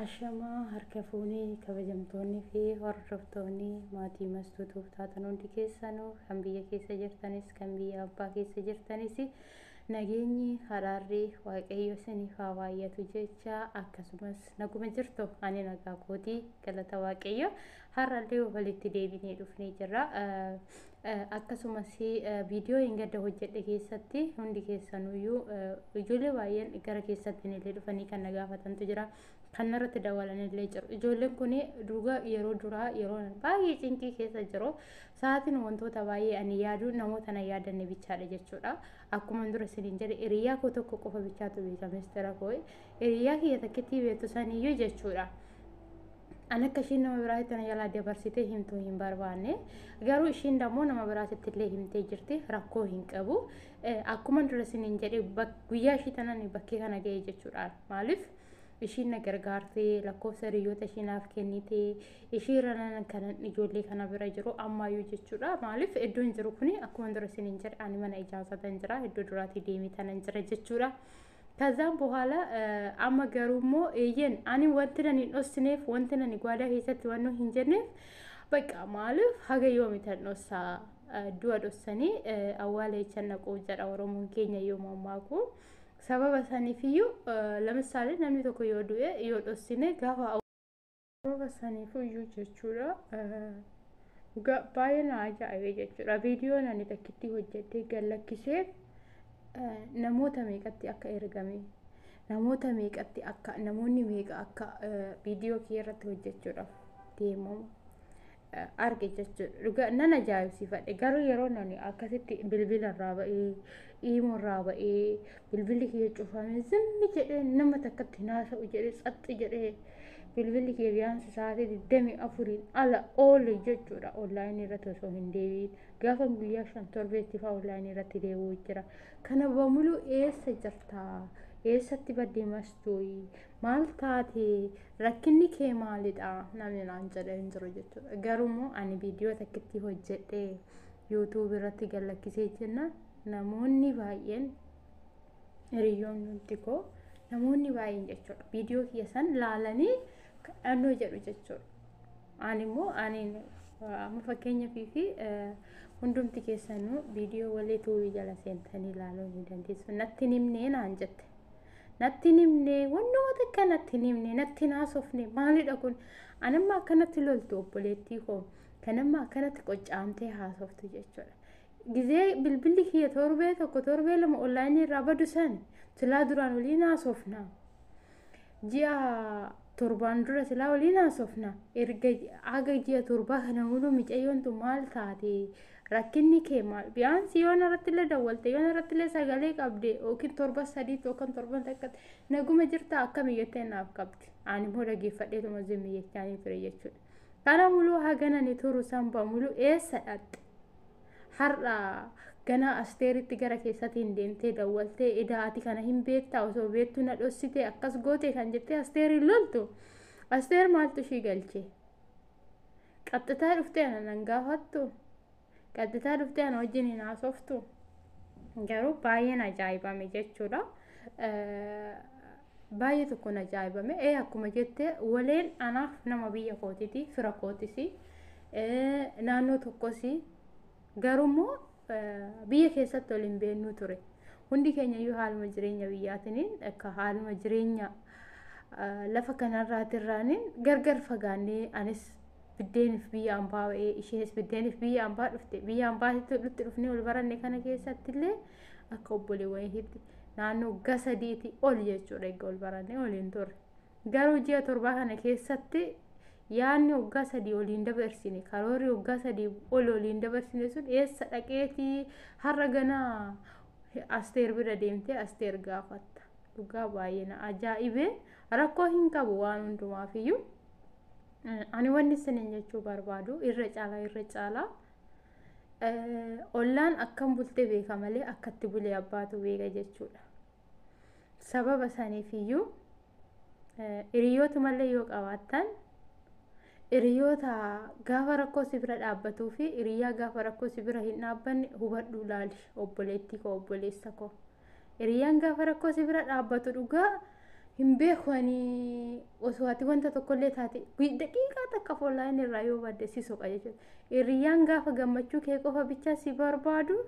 Ashamaa harka fuunee kabajamtoonni fi hordoftoonni maatii mastuu tuuftaatan hundi keessanuu kan biyya keessa jirtanis kan biyya abbaa keessa jirtanis nageenyi haraarri waaqayyo isiniif haa baay'atu jecha akkasumas naguma jirtu ani nagaa kootii galata waaqayyo har'allee walitti deebinee dhufnee jirra. Akkasumas viidiyoo hingadda hojjedhe keessatti hundi keessanuyyuu ijoollee baay'een gara keessatti illee dhufanii kan na gaafatantu jira. Kan narratti dawalan illee jiru. Ijoolleen kun dhugaa yeroo duraa yeroo baay'ee cinqii keessa jiru. Sa'aatiin wantoota baay'ee ani yaadu namoota na yaadanne bichaadha jechuudha. Akkuma dura isiniin jedhe hiriyaa koo tokko qofa bichaatu beeka mistira koo. Hiriyaa kiyya takkittii beektu saniyyuu jechuudha. An akka ishiin nama biraatti tana jalaa dabarsitee himtuu hin barbaanne. Garuu ishiin dammoo nama biraatti illee himtee jirti rakkoo hin qabu. Akkuma dura siniin jedhe guyyaa ishii tanan bakkee kana ga'e jechuudha. Maaliif ishiin na gargaartee lakkoofsa hiriyoota ishii naaf kennite ishii ranan kanan ijoollee kana bira jiru ammaayyuu jechuudha. Maaliif iddoon jiru kuni akkuma dura siniin jedhe ani mana ijaarsaa tan jira iddoo duraatii deemee tanan jira jechuudha. Tazaan bohaala amma garuu immoo eeyyen ani wanti nan hin dhossineef wanti nan gwaadaa keessatti waan hin jenneef bakka maaliif haga yoomitan dhossaa du'a dhossanii awwaala jechan naquu jedha oromoon keenya yoo mammaaku sababa saniifiyyuu lamisaale namni tokko yoo du'e yoo dhossine gaafa Sababa saniifuyyuu jechuudha dhugaa baay'ee na ajaa'ibe jechuudha. Viidiyoon ani takkittii hojjedhee gad lakkisee namoota meeqatti akka ergame namoota meeqatti akka namoonni meeqa akka viidiyoo kee irratti hojjechuudhaaf deemamu arge jechuudha. Dhugaa nan ajaa'ibsiifadhe garuu yeroo nani akkasitti bilbila irraa ba'ee iimuu irraa ba'ee bilbilli kiyya cufame zimmi jedhee nama takkatti hin haasa'u jedhee tsaxxi jedhee bilbilli kiyya biyaansi sa'aatii digdamii afuriin ala oole jechuudha onlaayinii irratti osoo hin deebiin gaafa guyyaa shan torbeetti fa'aa onlaayinii irratti deebi'u jira. Kana bamuluu eessa jirtaa? Eessatti badde mastuuyi? Maal taate rakkinni kee maalidha namni naan jedhee hin jiru jechuudha. Garuu immoo ani viidiyoo takkittii hojjedhee yuutuubii irratti gallakkisee jenna namoonni baay'een hiriyoonni hundi koo namoonni baay'een jechuudha. Viidiyoo kiyya san laalanii kadhannoo jedhu jechuudha. Ani immoo ani amma fakkeenyaaf fi hundumti keessanuu viidiyoo walii tuubii jala seentanii ilaaluu ni dandeessu. Natti hin himnee naan jette. natti hin himne wannuma takka natti hin himne natti hin haasofne maalidha kun anamma akkanatti loltu obboleettii koo kanamma akkanatti qoccaamtee haasoftu jechuudha. Gizee bilbilli kiyya torbee tokko torbee lama onlaayinii irraa badu san silaa duraan waliin haasofna. Ji'a torbaan dura silaa waliin haasofna. Erga haga ji'a torbaa kana muluu micayyoon tun maal taate rakkinni kee maal biyaansii yoo narrattillee dawwalte yoo narrattillee sagalee qabde yookiin torba sadii yookiin torban takka naguma jirta akkami jettee naaf qabdi ani immoo dhageeffadheetuma zimmi jechaanii ture jechuudha kana muluu haganani turu sanba muluu eessa dhaqxe har'a ganaa asteeritti gara keessatiin deemtee dawwaltee edaa ati kana hin beektaa osoo beektuu na dhossitee akkas gootee kan jettee asteeriin loltu asteer maaltu ishii galchee Qaxxitaa dhuftee ana nan gaafattu? Qaxxitaa dhuftee ana wajjin hin haasoftu? Garuu baay'een ajaa'ibame jechuudha. Baay'ee tokkoon ajaa'ibame. Ee akkuma jette waleen anaaf nama biyya kootiti, fira kootisi, naannoo tokkosi. Garuu immoo biyya keessatti ol hin beennuu ture. Hundi keenyayyuu haaluma jireenya biyyaatiniin akka haaluma jireenya lafa kanarraatirraaniin gargar fagaannee anis biddeenif biyya ambaa ba'ee isheenis biddeenif biyya ambaa dhufte biyya ambaatitti walitti dhufnee wal baranne kana keessatti illee akka obboleewwaniitti naannoo waggaa sadiitii ol jechuudha egaa wal barannee waliin turre. Garuu ji'a torbaa kana keessatti yaadni waggaa sadii ol hin dabarsine, karoorri waggaa sadii ol ol hin dabarsine sun eessa dhaqeetii har'a ganaa Asteer bira deemtee Asteer gaafatta. Dhugaa baay'ee na ajaa'ibe rakkoo hin qabu waan hundumaafiyyuu. Ani wanni isiniin jechuu barbaadu irra caalaa irra caalaa ollaan akkam bultee beeka malee akkatti bulee abbaatu beeka jechuudha. Sababa saniif iyyuu hiriyyootumallee yoo qabaattan hiriyoota gaafa rakkoo si bira dhaabbatuu fi hiriyyaa gaafa rakkoo si bira hin dhaabbanne hubadhuu laali obboleettii koo obboleessa koo. Hiriyyaan gaafa rakkoo si bira dhaabbatu dhugaa hin beeku ani osoo ati wanta tokkollee taate daqiiqaa takka foolaayin irraa yoo badde si soqa jechuudha. Hiriyyaan gaafa gammachuu kee qofa bichaa si barbaadu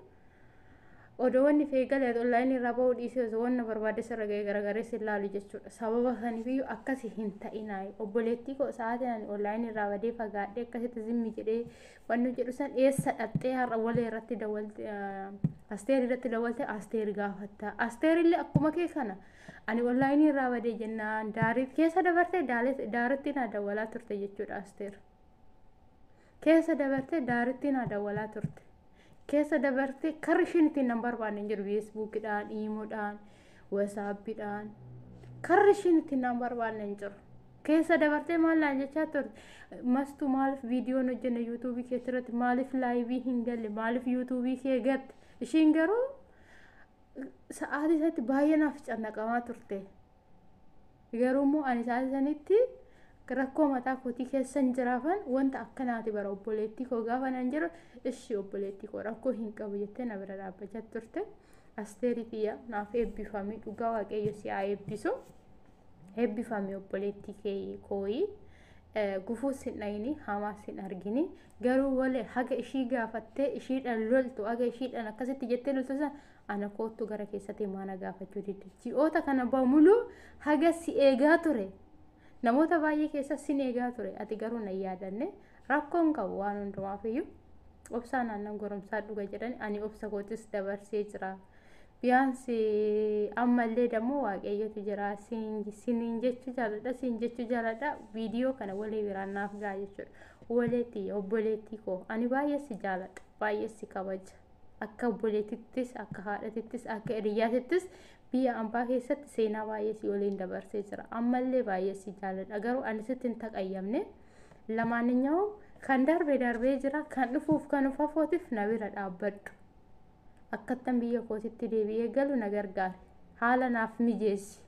odoo wanni feegale ati onlaayinii irraa ba'uu dhiisee osoo wanna barbaadde sirra ga'ee garagaree si ilaalu jechuudha. Sababa saniifiyyuu akkasi hin ta'inaayi. Obboleettii koo sa'aatiin ani onlaayinii irraa badee fagaadhee akkasitti zimmi jedhee wanni jedhu san eessa dhaqxee har'a walee irratti dawwalte asteer irratti dawwalte asteer gaafatta. Asteer illee akkuma kee kana ani onlaayinii irraa badee jennaan daarii keessa dabartee daaritti naa dawwalaa turte jechuudha asteer. Keessa dabartee daaritti naa dawwalaa turte. Keessa dabartee karri isheen ittiin nan barbaanne hin jiru feesbuukidhaan, iimoodhaan, wasaappiidhaan. Karri isheen ittiin nan barbaanne hin jiru. Keessa dabartee maal naan jechaa turte? Mastu maaliif viidiyoon hojjenne yuutuubii keetti irratti maaliif laayivii hin galle maaliif yuutuubii kee gatte? Ishiin garuu sa'aatii isatti baay'ee naaf cannaqamaa turte. Garuu immoo ani sa'aatii sanitti rakkoo mataa kootii keessan jiraafan wanta akkanaati bara obboleettii koo gaafa nan jedhu ishii obboleettii koo rakkoo hin qabu jettee na bira dhaabbachaa turte. Asteerii kiyya naaf eebbifamii dhugaa waaqayyo si haa eebbisu. Eebbifamii obboleettii kee kooyii. gufuu sin dhayini hamaa sin argini garuu wale haga ishii gaafattee ishiidhaan loltu haga ishiidhaan akkasitti jettee loltu san Ana koottu gara keessatti maana gaafachuu didde. Ji'oota kana bamuluu haga si eegaa ture. Namoota baay'ee keessa sin eegaa ture. Ati garuu na yaadanne rakkoon qabu waan hundumaaf iyyuu obsaa naannan goromsaa dhuga jedhan ani obsa kootis dabarsee jira. Biyaansi ammallee dammoo waaqayyotu jira siniin jechuu jaaladha siin jechuu jaaladha viidiyoo kana walii biraan naaf gaa jechuudha. Waleetti obboleettii koo ani baay'ee si jaaladha baay'ee si kabaja. akka obboleetittis akka haadhatittis akka hiriyyaatittis biyya ambaa keessatti seenaa baay'ee si waliin dabarsee jira ammallee baay'ee si jaaladha garuu ani sitti hin taqayyamne lamaaninyawuu kan darbe darbee jira kan dhufuuf kan ufafootiif na bira dhaabbadhu akkattan biyya kootitti deebi'ee galu na gargaare haala naaf mijeessi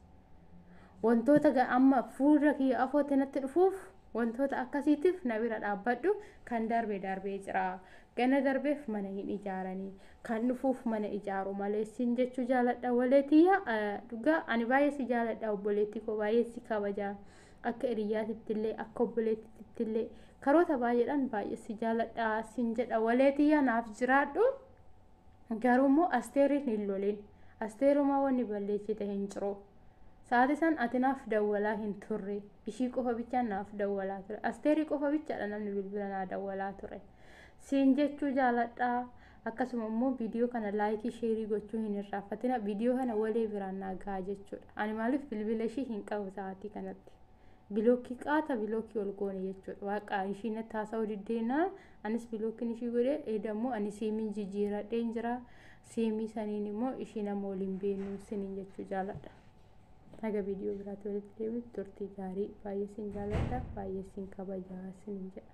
wantoota amma fuula kiyya afootti natti dhufuuf Wantoota akkasiitiif na bira dhaabbadhu, kan darbe darbee jira. Gana darbeef mana hin ijaaranii. Kan dhufuuf mana ijaaru malee siin jechuu jaaladha walee tiyya. Dhugaa ani baay'ee si jaaladha obboleettii koo baay'ee si kabaja. Akka hiriyyaatittillee akka obboleettittillee karoota baay'eedhaan baay'ee si jaaladha siin jedha walee tiyya naaf jiraadhu. Garuu immoo asteeriin hin lolin. Asteerumaa wanni balleessite hin jiru. Sa'aatii san ati naaf dawwalaa hin turre. Ishii qofa bichaan naaf dawwalaa ture. Asteerii qofa bichaadha namni bilbila naa dawwalaa ture. Siin jechuu jaaladhaa. Akkasuma immoo viidiyoo kana laayikii sheerii gochuu hin irraanfatina. Viidiyoo kana walee biraan naa gahaa jechuudha. Ani maaliif bilbila ishii hin qabu sa'aatii kanatti. Bilookii qaata bilookii ol goone jechuudha. Waaqa ishii natti haasa'uu diddeenaan anis bilookiin ishii godhee eeda immoo ani siimiin jijjiiradheen jira. Seemii saniin immoo ishii nama waliin beeknu siniin jechuu jaaladha. Haga viidiyoo biraatti walitti deebi'utti turtii gaarii baay'ee sin jaaladha baay'ee sin kabajaa siniin jedha.